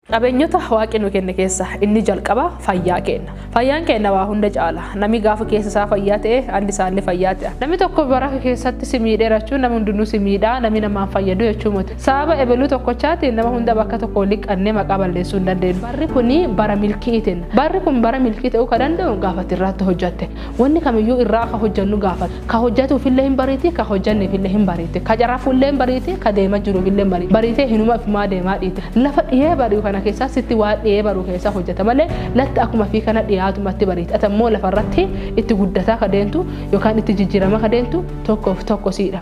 Qabeenyota Waaqi nu kenne keessa inni jalqaba fayyaa keenna. Fayyaan keenna waa hunda caala. Nami gaafa keessa isaa fayyaa ta'e andi isaallee fayyaa ta'a. Nami tokko bara keessatti si miidhee rachuun nami hundinuu si miidha, nami namaan fayyadu jechuu moti. Sababa ebeluu tokkochaatiin nama hunda bakka tokko liqannee maqaa balleessuu hin dandeennu. Barri kun bara milki'iitiin. Barri kun bara milkii ta'uu ka danda'u gaafa ati irraatti hojjatte. Wonni kamiyyuu irraa akka hojjannu gaafata. Ka hojjatuufillee hin bariiti, ka hojjanneefillee hin bariiti. Ka carafullee hin bariiti, ka deema jiruufillee hin bariiti. Bariitee hinuma ifumaa deemaa dhiite. Lafa dhiyee bari'u kana keessaa sitti waan dhiyee baru keessaa hojjata malee latti akkuma fi kana dhiyaatumatti bariiti. Atammoo lafarratti itti guddataa ka deentu yookaan itti jijjiiramaa ka deentu tokkoof tokko siidha.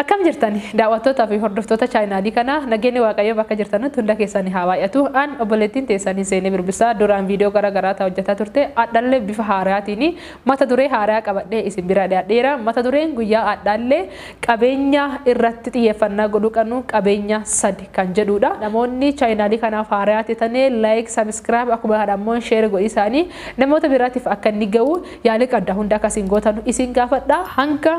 Akkam jirtani daaw'attootaa fi hordoftoota chaayinaalii kanaa nageenni waaqayyoo bakka jirtanutti hunda keessani haa baay'atu an obboleettiin teessanii Seenee Birbissaa duraan viidiyoo gara garaa ta hojjataa turte adhallee bifa haarayaatiin mata duree haarayaa qabadhee isin bira dhiyaadheera mata dureen guyyaa adhaallee qabeenya irratti xiyyeeffannaa godhuu qanuu qabeenya sadi kan jedhuudha namoonni chaayinaalii kanaaf haarayaa tetanee like subscribe akkuma kana ammoo share godhii isaanii namoota biraatiif akka inni ga'u yaalii qabda hunda akka isin gootanu isin gaafadha hanga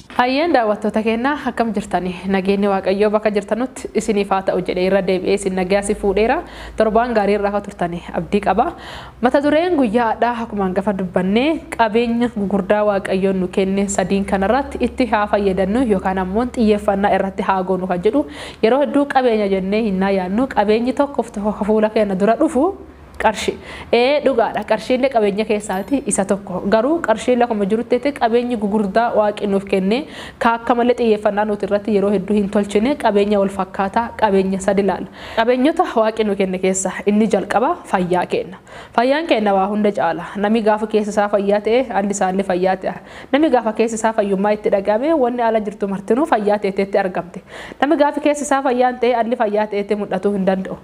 Hayyeen daawwattoota keenya akkam jirtani? Nageenyi Waaqayyoo bakka jirtanutti isiniif haa ta'u jedhee irra deebi'ee isin nagaya si fuudheera. Torbaan gaarii irra akka turtani abdii qaba. Mata dureen guyyaa hadhaa akkuma hangafa dubbannee qabeenya gugurdaa Waaqayyoon nu kenne sadiin kanarratti itti haa fayyadannuu yookaan ammoo xiyyeeffannaa irratti haa goonu kan jedhu yeroo hedduu qabeenya jennee hinnaa yaadnu qabeenyi tokko fuula keenya dura dhufu Qarshii. Ee dhugaadha qarshiinle qabeenya keessaati isa tokko. Garuu qarshiin lakuma jiruttete qabeenyi gugurdaa waaqi nuuf kenne ka akka malee xiyyeeffannaa nuuti irratti yeroo hedduu hin tolchine qabeenya wal fakkaataa qabeenya sadi laala. Qabeenyota waaqi nu kenne keessa inni jalqaba fayyaa keenna. Fayyaan keenna waa hunda caala. Nami gaafa keessi isaa fayyaa ta'e alli isaalle fayyaa te'a. Nami gaafa keessi isaa fayyummaa itti dhaga'ame wonni ala jirtu martinuu fayyaa teeteetti argamti. Nami gaafi keessi isaa fayyaa hin ta'e alli fayyaa ta'eeti mudhatuu hin danda'u.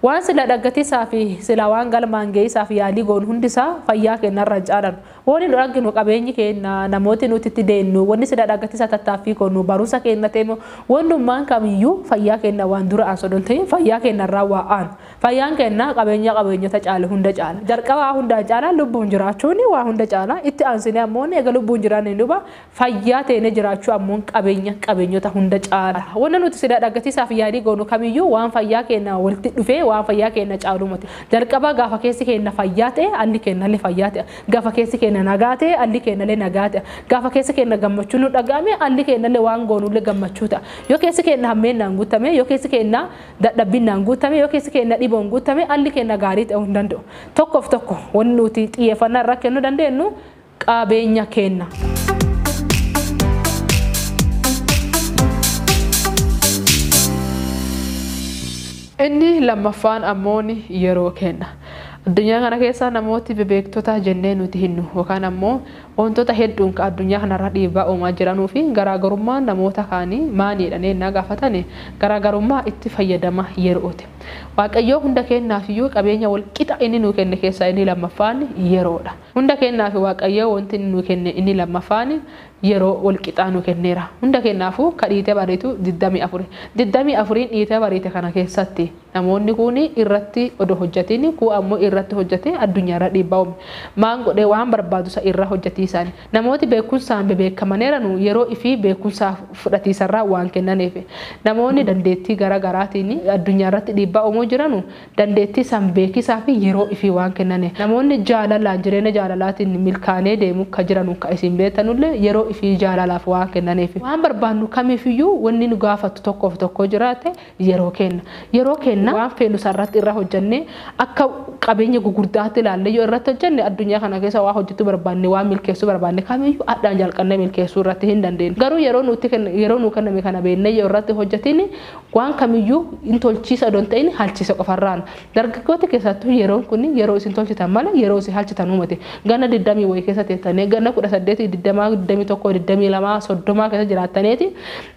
Waan sila dhaggatisaa fi silaa waan galmaan geyisaaf yaalii goonu hundisaa fayyaa keenna irra hin caalanu. Wonni nu dhagginu, qabeenyi keenna, namooti nuti itti deennu, wonni sila dhaggatisaa tattaaffii goonu, barumsa keenna ta'e moo wonnummaan kamiyyuu fayyaa keenna waan dura'aan sodoo hin ta'in fayyaa keenna irraa waa aanu. Fayyaan keenna qabeenya qabeenyota caalu hunda caala. Jalqaba waa hundaan caalaa lubbuun jiraachuun waa hunda caala. Itti aansinee ammoo eega lubbuun jiraanneen duuba Fayyaa teenee jiraachuu ammoon qabeenya qabeenyota hunda caala. Wanna nuti sila dhagatisaaf yaalii goonu kamiyyuu waan fayyaa keenna walti dhufee waan fayyaa keenna caaluu moti. Jalqabaa gaafa keessi keenna fayyaa ta'e alli keennalle fayyaa ta'a. Gafa keessi keenna nagaa ta'e alli keennalle nagaa ta'a. Gaafa keessi keenna gammachuun nu dhaga'ame alli keennalle waan goonulle gammachuu ta'a. Yoo keessi keenna hammeennaan guuttame, yoo keessi keenna dadhabbinnaan guuttame, yoo keessi keenna dhiboon guuttame alli keenna gaarii ta'uu hin danda'u. Tokkoof tokko wanni nuti xiyyeeffannaa irraa kennu dandeennu qaabeenya keenna. Inni lammaffaan ammoo ni yeroo keenna. Addunyaa kana keessa namooti bebeektota jennee nuti hinnu yookaan ammoo wantoota hedduun ka addunyaa kanarra dhiibbaa uumaa jiranuu fi garaagarummaa namoota kaanii maanii jedhanii ennaa gaafatane garaagarummaa itti fayyadama yero'ooti. Waaqayyoo hunda keennaafiyuu qabeenya wal qixa inni nuu kenne keessaa inni lammaffaan yeroodha. Hunda keennaafi Waaqayyoo wonti inni nuu kenne inni lammaffaani yeroo wol qixaa nuu kenneera. Hunda keennaafu ka dhiitee bariitu 24. 24n dhiitee bariite kana keessatti namoonni kuuni irratti odoo hojjatiini kuu ammoo irratti hojjatee addunyaa irra dhiibbaa uume. Maan godhee waan barbaadu sa irra hojjatiisaani. Namooti beekkunsaan bebeekkamaneeranu yeroo ifii beekkunsaa fudhatiisarraa waan kennaniifi. Namoonni dandeettii gara garaatiini addunyaa irratti dhiibbaa uumuu jiranu dandeettii san beekisaa fi yeroo ifii waan kennane. Namoonni jaalalaan jireenya jaalalaatiin milkaanee deemu ka jiranu ka isin beetanullee yeroo ifii jaalalaaf waan kennaneefi. Waan barbaannu kamiifiyyuu wanni nu gaafattu tokkoof tokkoo jiraate yeroo keenna. Yeroo keenna waan feenu san irratti irra hojjannee akka qabeenya gugurdaatti ilaallee yoo irratti hojjanne addunyaa kana keessa waan hojjachuu barbaanne waan milkeessuu barbaanne kamiiyyuu adhaan jalqannee milkeessuu irratti hin dandeenna. Garuu yeroo nutti yeroo nuu kenname kana beennee yoo irratti hojjatiin Waan kamiyyuu hin tolchiisa odoo hin ta'in halchiisa qofarraan. Dargaggooti keessaattuu yeroon kun yeroo isin tolchitan malee yeroo isin halchitanuu miti. Ganna digdamii wayii keessa teettanee ganna kudha saddeetii, digdamaa, digdamii tokkoo, digdamii lamaa, soddomaa keessa jiraattaneeti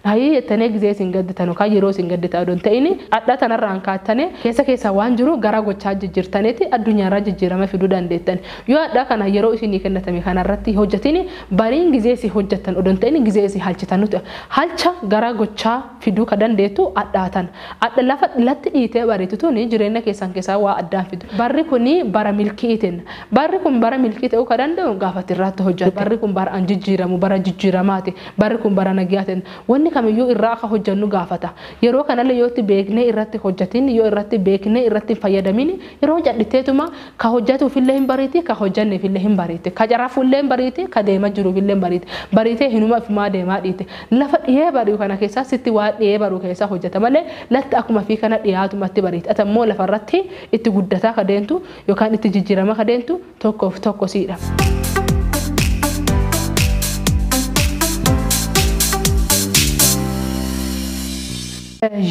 hayii jettanee gizee isin gadditan yookaan yeroo isin gadditan odoo hin ta'in adha tanarraan kaattanee keessa keessan waan jiru garaa gochaa jijjirtaneeti addunyaarraa jijjiirama fiduu dandeettan. Yoo adha kana yeroo isinii kennatame kanarratti hin hojjatin bariin gizee isin hojjattan odoo hin ta'in gizee isin halchitanuudha. Halcha garaa gochaa. fiduu ka dandeettu adhaa tana. Adha lafa latti dhiitee bariitu tuni jireenna keessan keessaa waa addaan fiddu. Barri kuni bara milki'ii tenna. Barri kun bara milkii ta'uu ka danda'u gaafa ati irraatti hojjatte. Barri kun bara an jijjiiramu, bara jijjiiramaati. Barri kun bara nagyaa tenna. Wanni kamiyyuu irraa akka hojjannu gaafata. Yeroo kanallee yoo itti beeknee irratti hin hojjatin, yoo irratti beeknee irratti hin fayyadamin, yeroo cadhitteetuma, Ka hojjatuufillee hin bariiti, ka hojjanneefillee hin bariiti. Ka carafullee hin bariiti, ka deema jiruufillee hin bariiti. Bariitee hinuma ifumaa deemaa dhiite. Lafa dhihee bari'u kana keessaa sitti waan dhihee bari'u keessaa hojjata malee latti akkuma ifii kana dhiyaatumatti bariiti. Ati ammoo lafarratti itti guddataa ka deentu yookaan itti jijjiramaa ka deentu tokkoof tokko siidha.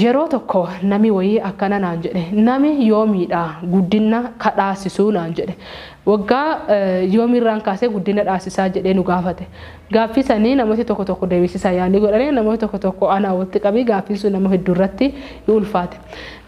Yeroo tokko nami woyii akkana naan jedhe, Nami yoomiidha guddinna ka dhaasisu? naan jedhe. Woggaa yoomiirraan kaasee guddinna dhaasisaa? jedhee nu gaafate. Gaaffii sanii namooti tokko tokko deebisiisaa yaalii godhane, namooti tokko tokko anaa wolitti qabii gaaffiin sun nama hedduu irratti hin ulfaate.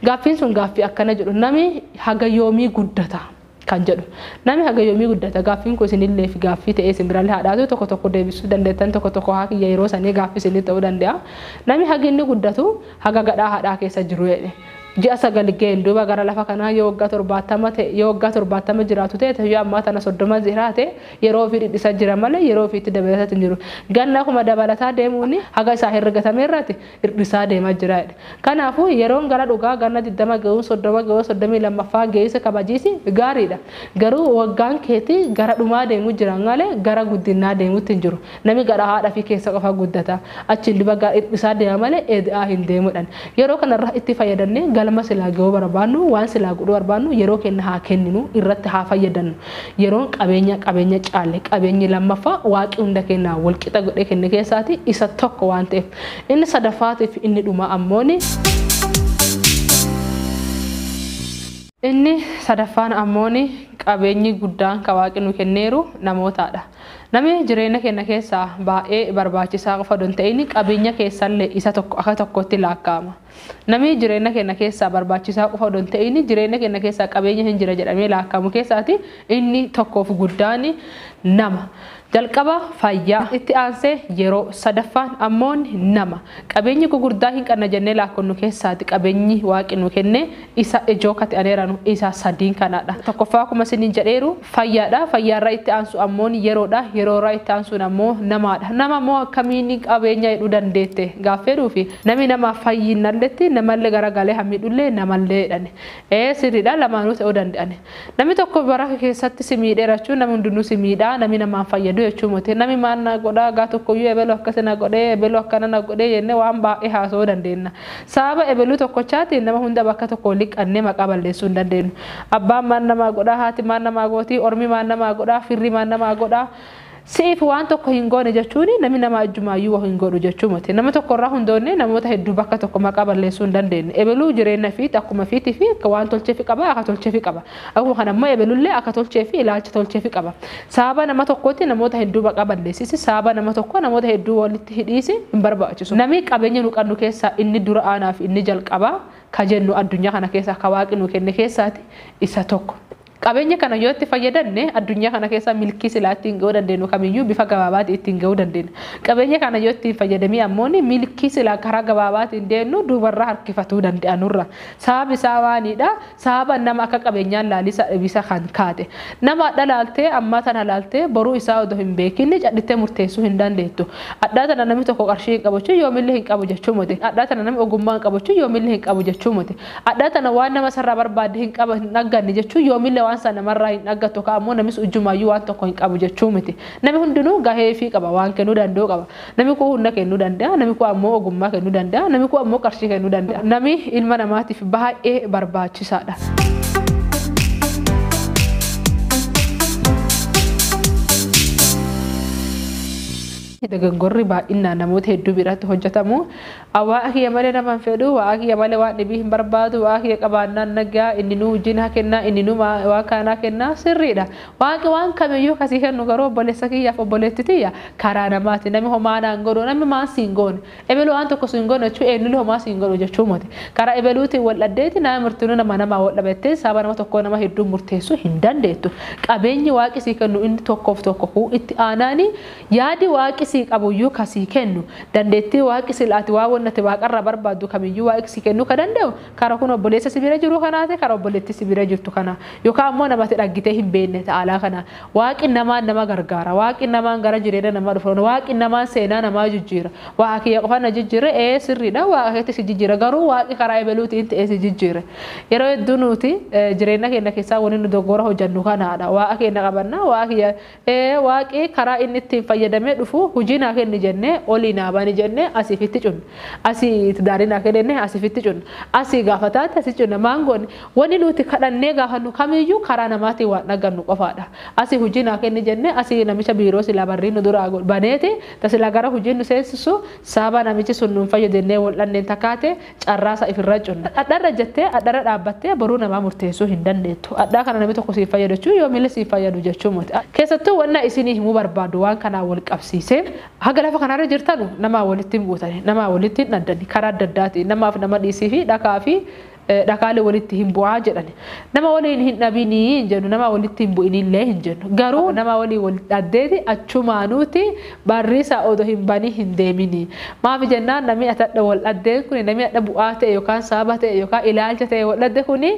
Gaaffiin sun gaaffii akkana jedhu, Nami haga yoomii guddata? kan jedhu. Nami haga yoomii guddata? Gaaffiin kun isinilleef gaaffii ta'ee isin biralle haa dhaatu, tokko tokko deebisuu dandeettan, tokko tokko haa kiyya yeroo sanii gaaffii isinii ta'uu dande'a. Nami hagi inni guddatu haga gadhaa haadhaa keessa jiru jedhe. Ji'a sagal ga'een duuba gara lafa kanaa yoo waggaa torbaattama ta'e, yoo waggaa torbaattama jiraatu ta'e, ta yoo ammaa tana soddoma zihraate yeroo ufii dhidhisa jira malee yeroo ufiitti dabalatatti hin jiru. Ganna kuma dabalataa deemuun haga isaa herregatame irraati hir'isaa deemaa jira jedhe. Kanaafuu, yeroon gara dhugaa ganna 20 ga'uun 30 ga'uun 32ffaan ga'uunsa kabajiisi gaariidha. Garuu waggaan keeti gara dhumaa deemu jira malee gara guddinnaa deemutti hin jiru. Nami garaa haadha ifii keessa qofa guddata. Achiin duba gara hir'isaa deema malee eeda'aa hin deemu jedhan. Yeroo kanarra itti fayyadannee galma silaa ga'uu barbaannu, waan silaa godhuu barbaannu yeroo keenna haa kenninu, irratti haa fayyadannu. Yeroon qabeenya qabeenya caalle. Qabeenyi lammaffaa Waaqi hunda keennaaf wal qixa godhee kenne keessaati isa tokko waan ta'eef. Inni sadaffaatii fi inni dhumaa ammoo ni. Inni sadaffaan ammoo ni qabeenyi guddaan ka Waaqi nu kenneeru namootaa dha. Nami jireenya keenna keessaa baay'ee barbaachisaa qofa odoo hin ta'in qabeenya keessallee isa tokko akka tokkootti laakka'ama. Namii jireenna keenna keessaa barbaachisaa qofa odoo hin te'iin jireenna keenna keessaa qabeenya hin jira jedhamee laakkamu keessaati inni tokkoo fi guddaan nama. Jalqaba fayyaa, itti aansee yeroo, sadaffaan ammoon nama. Qabeenyi gugurdaa hin qanna jennee laakkonnu keessaati qabeenyi Waaqi nuu kenne Isa ijoo kati an eranu isa sadiin kanadha. Tokkoffaa akkuma isinin jedheeru fayyaadha. Fayyaa irra itti aansu ammoon yeroodha. Yeroo irra itti aansuun ammoo namaadha. Nama ammoo akkamiin qabeenya hidhuu dandeette gaaffii jedhuufi. Nami nama fayyinnalletti namallee garagalee ha miidhullee namalleedhani. Ee sirriidha lamaanuu ta'uu danda'ani. Nami tokko bara ke keessatti si miidhee rachuu nami hundinuu si miidhaa nami nama hin fayyaduu jechuu moti nami maal naa godhaa gaa tokkoyyuu ebelu akkasi na godhee ebelu akkana na godhee jennee waan baay'ee haasa'uu dandeenna sababa ebeluu tokkochaatiin nama hunda bakka tokko wali qannee maqaa balleessuu hin dandeennu abbaan maal namaa godhaa haati maal namaa gootii ormi maal namaa godhaa firri maal namaa godhaa Si'iif waan tokko hin goone jechuun namni nama ajjumaayyuu wa hin godhu jechuu miti. Nama tokko irraa hundoonnee namoota hedduu bakka tokko maqaa balleessuu hin dandeennu. Ebeluu jireenya fiit akkuma fiitii fi akka waan tolcheefi qaba akka tolcheefi qaba. Akkuma kana immoo ebelullee akka tolchee fi ilaalcha tolcheefi qaba. Sababa nama tokkootti namoota hedduu maqaa balleessisi sababa nama tokkoo namoota hedduu walitti hidhiisi hin barbaachisu. Namii qabeenya nu qannu keessaa inni dura aanaa fi inni jalqabaa ka jennu addunyaa kana keessaa ka waaqi nu kenne keessaati isa tokko. Qabeenya kana yoo itti fayyadamne addunyaa kana keessaa milkii silaa ittiin ga'uu dandeenyu kamiyyuu bifa gabaabaatiin ittiin ga'uu dandeenya. Qabeenya kana yoo itti hin fayyadamii ammooni milkii silaa karaa gabaabaatiin deemnu duubarraa harkifatuu danda'a nurra. Sababni isaa maaliidha? Sababa nama akka qabeenyaan laalii isaa dhibiisa kan kaate. Nama adha laaltee ammaa tana laaltee boruu isaa odoo hin beekiin cadhittee murteessuu hin dandeettu. Adhaa tana namni tokko qarshii hin qabu jechuun yoomillee hin qabu jechuu moti. Adhaa tana namni ogummaa hin qabu jechuun yoomillee hin qabu jechuu moti. Adhaa tana waan nama sarraa barbaadde hin qaba hin dhagganne jechuun yoomillee waan san namarraa hin dhaggattu ka ammoo namis ujjumaayyuu waan tokko hin qabu jechuu miti. Nami hundinuu gahee ifii qaba, waan kennuu danda'u qaba. Nami kuun hunna kennuu danda'a, nami kuun ammoo ogummaa kennuu danda'a, nami kuun ammoo qarshii kennuu danda'a. Nami ilma namaatiif baay'ee barbaachisaadha. Dogoggorri baay'innaan namoota hedduu biratti hojjatamu A Waaqa kiyya malee nama hin fedhu, Waaqa kiyya malee waan dhibii hin barbaadu, Waaqa kiyya qabaannaan nagaa, Inni nuu wajjin haa kenna, Inni nuu waan kana naa kenna. Sirriidha. Waaqi waan kamiyyuu ka sii kennu garuu obboleessa kiyyaaf obboleetti tiyya karaa namaati. Nami homaa naa hin godhu, nami maan siin goone. Ebelu waan tokko siin goone jechuun eennulle homaa siin godhu jechuu moti. Karaa ebeluutiin wal dhaddeeti nami martinuu nama namaa wal dhaba jettee sababa nama tokkoo nama hedduun murteessuu hin dandeettu. Qabeenyi Waaqi sii kennu inni tokkoof tokko kuu itti aanaani Yaadi Waaqi sii qabuyyuu ka sii kennu, dandeettii Waaqi sila ati waan wonni ati Waaqa irraa barbaaddu kamiyyuu Waaqi sii kennuu ka dande'u, karaa kun obboleessa si bira jiruu kanaati, karaa obboleettii si bira jirtu kana, yookaan ammoo nama ati dhaggitee hin beenne ta alaa kana. Waaqi namaan nama gargaara. Waaqi namaan gara jireenna namaa dhufa. Waaqi namaan seenaa namaa jijjiira. Waaqa kiyya qofa na jijjiirre? Ee, sirrii dha, Waaqa keetti si jijjiira. Garuu Waaqi karaa ebeluutiin te'ee si jijjiire. Yeroo hedduu nuuti jireenna keenna keessaa wonni nu doggoora hojannu kanaa dha. Waaqa keenna qabanna, Waaqa kiyya Ee Waaqi karaa inni ittiin fayyadamee dhufu hujii naa kenni jennee olii naa bani jennee asii fi itti cunna. Asii tidaarii naa kenni jennee asii fi itti cunna. Asii gaafa taate asii cunna. Maan goone? Wani nuuti kadhannee gaafannu kamiiyyuu karaa namaatiin waan dhaggannu qofaadha. Asii hujii naa kenni jennee asii namicha biiroo silaa barrii nu duraa baneeti ta silaa gara hujii nu seensissu saabaa namichi sun nuun fayyu dennee wol dhanneen ta kaate Carraa isaa ifirraa cunna. Adharra jettee adharra dhaabbattee boruu namaa murteessuu hin dandeettu. Adhaa kana namni tokko siif fayyadu jechuun yoomillee siif fayyadu jechuu moti. Keessattuu wanna isinii himuu barbaadu waan kanaan wal qabsiisee haga lafa kanarra jirtanu namaa walitti hin buutani, namaa walitti hin dhaddani, karaa adda addaatiin namaaf nama dhiisii fi dhakaa fi dhakaalee walitti hin bu'aa jedhani. Nama waliin hin dhabini hin jennu, namaa walitti hin bu'inillee hin jennu. Garuu nama waliin wal dhaddeeti achumaanuuti Barriisa odo hin banii hin deemini. Maafi jennaan namii ati hadha wal dhaddeen kuni namii hadha bu'aa ta'e yokaan sababa ta'e yokaan ilaalcha ta'e wal dhadde kuni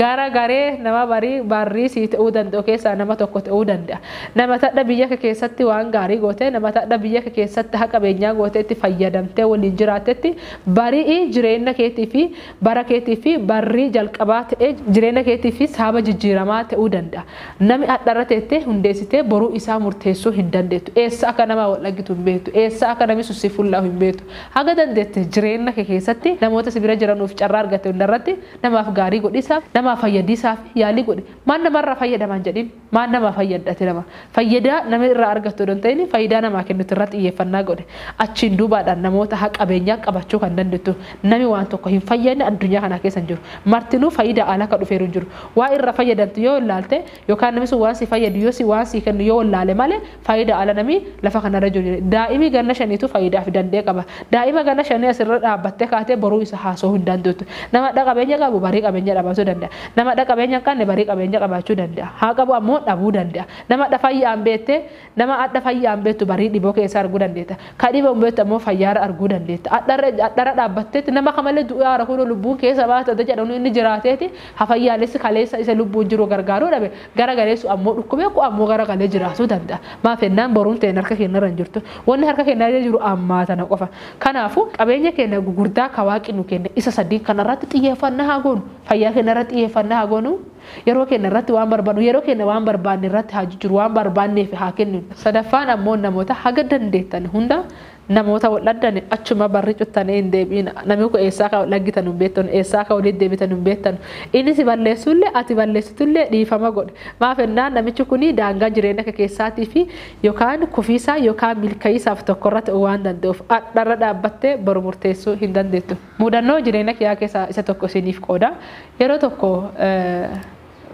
gara garee nama barii barrii sii ta'uu danda'u keessaa nama tokko ta'uu danda'a. Nama ati hadha biyya ke keessatti waan gaarii gootee nama ati hadha biyya ke keessatti ha qabeenyaa gootee itti fayyadamtee waliin jiraattetti bari'i jireenna keetii fi bara keetii fi barrii jalqabaa ta'ee jireenna keetii fi sababa jijjiiramaa ta'uu danda'a. Nami adha irra teettee hundeessitee boruu isaa murteessuu hin dandeettu. Eessa akka namaa wal dhaggitu hin beektu. Eessa akka nami sun si fullaa'u hin beektu. Haga dandeette jireenna kee keessatti namoota si bira jiranuuf carraa argatte hunda irratti namaaf gaarii godhiisaaf, namaa fayyadiisaaf yaalii godhi. Maan nama irraa fayyadama hin jedhin. Maan namaa fayyadda ati nama? Fayyadaa nami irraa argattu odoo hin ta'in fayyidaa namaa kennitu irra xiyyeeffannaa godhi. Achiin duubaadhaan namoota ha qabeenyaa qabachuu kan dandettu. Nami waan tokko hin fayyadne addunyaa kanaa keessa hin jiru. Martinuu fayyidaa ala akka dhufeeru hin jiru. Waa irra fayyadamtu yoo wallaalte yookaan nami sun waan si fayyadu yoo si waan sii kennu yoo wallaale male faayida ala nami lafa kanarra jiru jira. Daa'imi ganna shaniitu faayidaaf dandee qaba. Daa'ima ganna shanii asirra dhaabbattee kaatee boruu isa haasa'uu hin dandeettu. Nama dha qabeenya qabu barii qabeenya dhabatu danda'a. Nama dha qabeenya hin qabne barii qabeenya qabaachuu danda'a. Haa qabu ammoo dhabuu danda'a. Nama dha fayyaan beettee Nama adha fayyaan beektu barii dhiboo keessa arguu dandeetta. Ka dhiboon beektu ammoo fayyaarra arguu dandeetta. Adharra dhaabbatteetti nama kamalee du'aara kunoo lubbuun keessa baate adda jedhanu inni jiraateeti ha fayyaalessi kaleessa isa lubbuun jiru gargaaruu dhabe gara galeessu ammoo dhukkubee ku ammoo gara galee jiraatuu danda'a. Maaf hennaan boruun teenna harka keennarra hin jirtu. Wanni harka keennarra jiru ammaa tana qofa. Kanaafuu qabeenya keenna gugurdaa ka Waaqi nu kenne isa sadiin kanarratti xiyyeeffannaa haa goonu. Fayyaa keennarratti xiyyeeffannaa haa goonu. Yeroo keenya irratti waan barbaannu, yeroo keenya waan barbaanne irratti haa jijjiirru, waan barbaanneef haa kenninu. Sadaffaan ammoo namoota haga dandeettan hunda namoota wal dhabdani achuma barri cuttanii hin deebi'ina. Namni kun eessaa akka wal dhaggitanu hin beektanu, eessaa akka walitti deebitanu hin beektanu. Inni si balleessullee ati balleessitullee dhiifama godhi. Maaf ennaan namichi kun daangaa jireenya kee keessaatii fi yookaan kufiisaa yookaan milka'iisaaf tokko irratti waan danda'uuf. Ardharra dhaabbattee boru murteessuu hin dandeettu. Mudannoo jireenya kiyaa keessaa isa tokko isiniif qooda. Yeroo tokko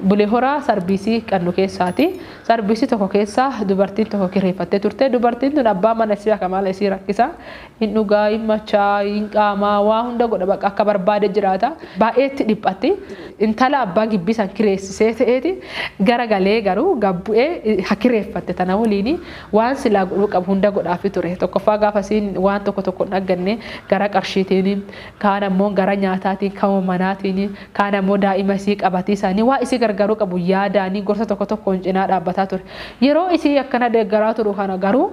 Bulee Horaa sarbiisii qannu keessaati. Sarbiisii tokko keessa dubartiin tokko kireeffattee turte. Dubartiin tun abbaa mana isii akka maala isii rakkisa. Hin dhugaa, hin machaa, hin qaamaa, waa hunda godha bakka akka barbaade jiraata. Baay'ee itti dhiphatti. Intala abbaan gibbii san kireessisee ta'eeti gara galee garuu gad bu'ee ha kireeffatte tana waliini. Waan silaa godhuu qabu hunda godhaafii ture. Tokkoffaa gaafa isiin waan tokko tokko hin dhagganne gara qarshiitiini, kaan ammoo gara nyaataatiin, kama manaatiini, kaan ammoo daa'ima isii qabatiisaani waan isii gargaaruu qabu yaadaani gorsa tokko tokkoon cinaa dhaabbataa ture. Yeroo isii akkana deeggaraa turu kana garuu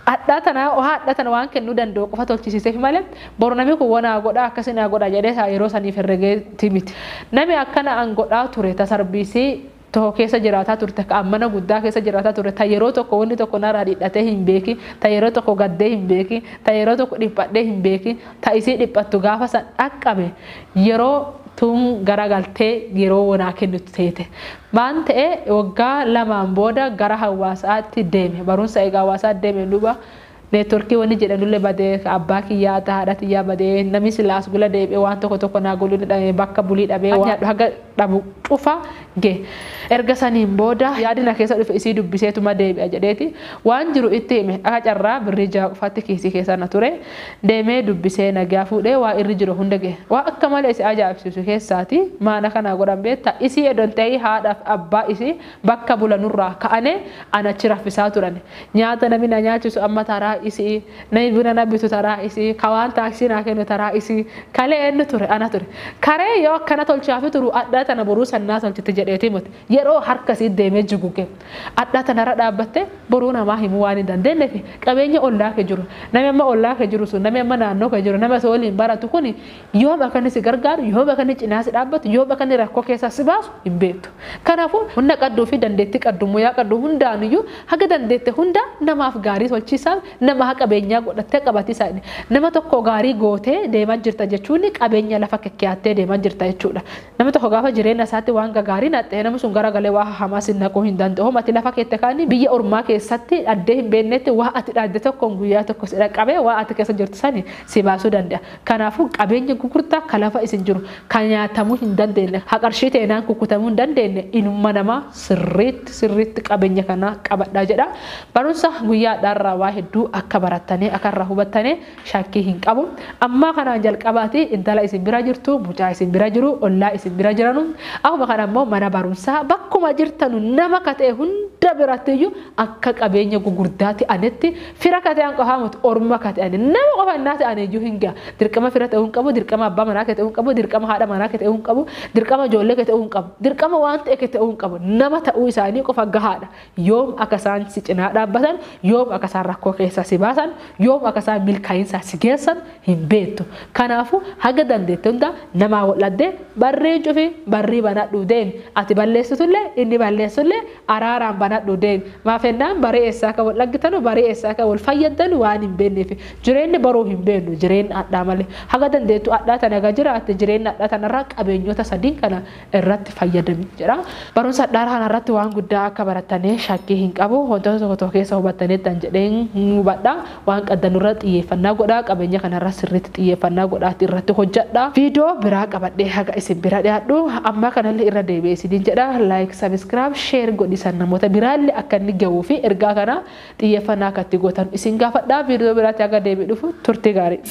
hadhaa tana haadha tana waan kennuu danda'u qofa tolchisiiseefi malee boru nami kun wanaa godha akkasi naa godha jedhee isaa yeroo saniif herregeeti miti. Nami akkana an godhaa ture tasarbiisii tokko keessa jiraataa turte, ka an mana guddaa keessa jiraataa ture, ta yeroo tokko wonni tokko narraa dhidhatee hin beekin, ta yeroo tokko gaddee hin beekin, ta yeroo tokko dhiphadhee hin beekin, ta isii dhiphattu gaafa san dhaqqabe, yeroo tun garagaltee yeroo wo naa kennitu teete. Maan ta'e, woggaa lamaan booda gara hawaasa'aatti deeme. Barumsa eega hawaasa'atti deemeen duuba, Network wani jedhanulle bade ka abba kiyya ta hadha tiyya bade nami sila as gula debi'e wan toko toko na godhu dadhabe bakka buli dhabe wan nyadhu haga dhabu ch'ufa ge. Erga saniin booda yaadi na keessa dhufe isii dubbiseetuma deebi'a jedheeti waan jiru itti hime aka carraa birrii jaha qofatti kiisii keessa na ture deemee dubbisee nagya fuudhee waan irri jiru hunda ge. Waan akka malee isi ajaa'ibsiisu keessaati maan aka na godhan beetta isii edon tahi haadhaf abba isii Bakka bulanurraa ka'ane ana achi raffisaa turani. Nyaata nami na nyaachisu amma taraa isi'i. Nami buna na bitu taraa isi'i. Ka waan taaksii naa kennu taraa isi'i. Kalee eennu ture? Ana ture. Karee yoo akkana tolchaafi turu adhaa tana boruu san naa tolchiti jedheetii moti. Yeroo harka isii deemee juguge. Adhaa tana irra dhaabbattee boruu namaa himuu waan hin dandeennefi qabeenya ollaa kee jiru. Nami amma ollaa kee jiru sun, nami amma naannoo kee jiru, nami ati waliin baratu kuni Yoom akka inni si gargaaru, yoom akka inni cinaa si dhaabbatu, yoom akka inni rakkoo keessaa si baasu hin beektu. Kanaafuu humna qabduu fi dandeettii qabdu, muyaa qabdu hundaan iyyuu haga dandeette hundaa namaaf gaarii tolchiisaaf, namaa qabeenyaa godhattee qabatiisaa nama tokko gaarii gootee deemaa jirta jechuun qabeenya lafa kekkeyaattee deemaa jirta jechuu dha. Namni tokko gaafa jireenya isaatti waan gagaarii naqxe namni sun gara galee waa hahamaa si naquu hin danda'u. Homa ati lafa keette kaan biyya ormaa keessatti dhaddee hin beeknetti waa ati dhadde tokkoon guyyaa tokko si dhaqqabee waa ati keessa jirtu sani si baasuu danda'a. Kanaafuu qabeenya gugurdaa ka lafa isin jiru, ka nyaatamuu hin dandeenne, ka qarshii teenaan kukkutamuu hin dandeenne, ilma namaa sirriitti sirriitti qabeenya kana qabadhaa jedha. Barumsa guyyaa hadhaa irraa waa hedduu akka barattanii, akka irraa hubattanii shakkii hin qabu. Ammaa kanaan jalqabaatii intala isin bira jirtu, mucaa isin bira jiru, ollaa isin bira jiranu, akkuma kana immoo mana barumsaa bakkuma jirtanu nama ka ta'e hunda birattiyyuu, akka qabeenya gugurdaa te'anetti fira ka te'an qofaa moti orma ka te'ane nama qofa innaa te'ane iyyuu hin ga'a dirqama fira te'uu hin qabu dirqama abbaa manaa kee te'uu hin qabu dirqama haadha manaa kee te'uu hin qabu dirqama ijoollee kee te'uu hin qabu dirqama waan ta'e kee te'uu hin qabu nama ta'uu isaanii qofa gahaadha yoom akka isaan si cinaa dhaabbatan yoom akka isaan rakkoo keessaa si baasan yoom akka isaan milkaa'insaa si geessan hin beektu kanaafu haga dandeette hunda namaa wal'addee barrii cufi barrii banadhuu deemi ati balleessitullee inni balleessullee Araaraan banadhu deemi. Maaf ennaan barii eessaa akka wal dhaggitanu, barii eessaa akka wal fayyaddanu waan hin beenneefi. Jireenni boruu hin beennu, jireenna adhaa malee. Haga dandeettu adhaa tana eega jiraatte jireenna adhaa tanarraa qabeenyoota sadiin kana irratti fayyadami jedha. Barumsa adhaa kanarratti waan guddaa akka barattanee shakkii hin qabu. Wantoota tokko tokko keessa hubattaniittan jedheen hubadha. Waan qaddan irra xiyyeeffannaa godhaa qabeenya kana irra sirriitti xiyyeeffannaa godhaati irratti hojjadha. Video biraa qabadhee haga isin bira dhiyaadhu ammaa kanallee irra deebi'ee isiniin jedha like subscribe share godhiisan namoota biraallee akka inni gahuu fi ergaa kana xiyyeeffannaa akka itti gootan isin gaafadha. Video biraatti haga deebi'ee dhufu turtii gaarii.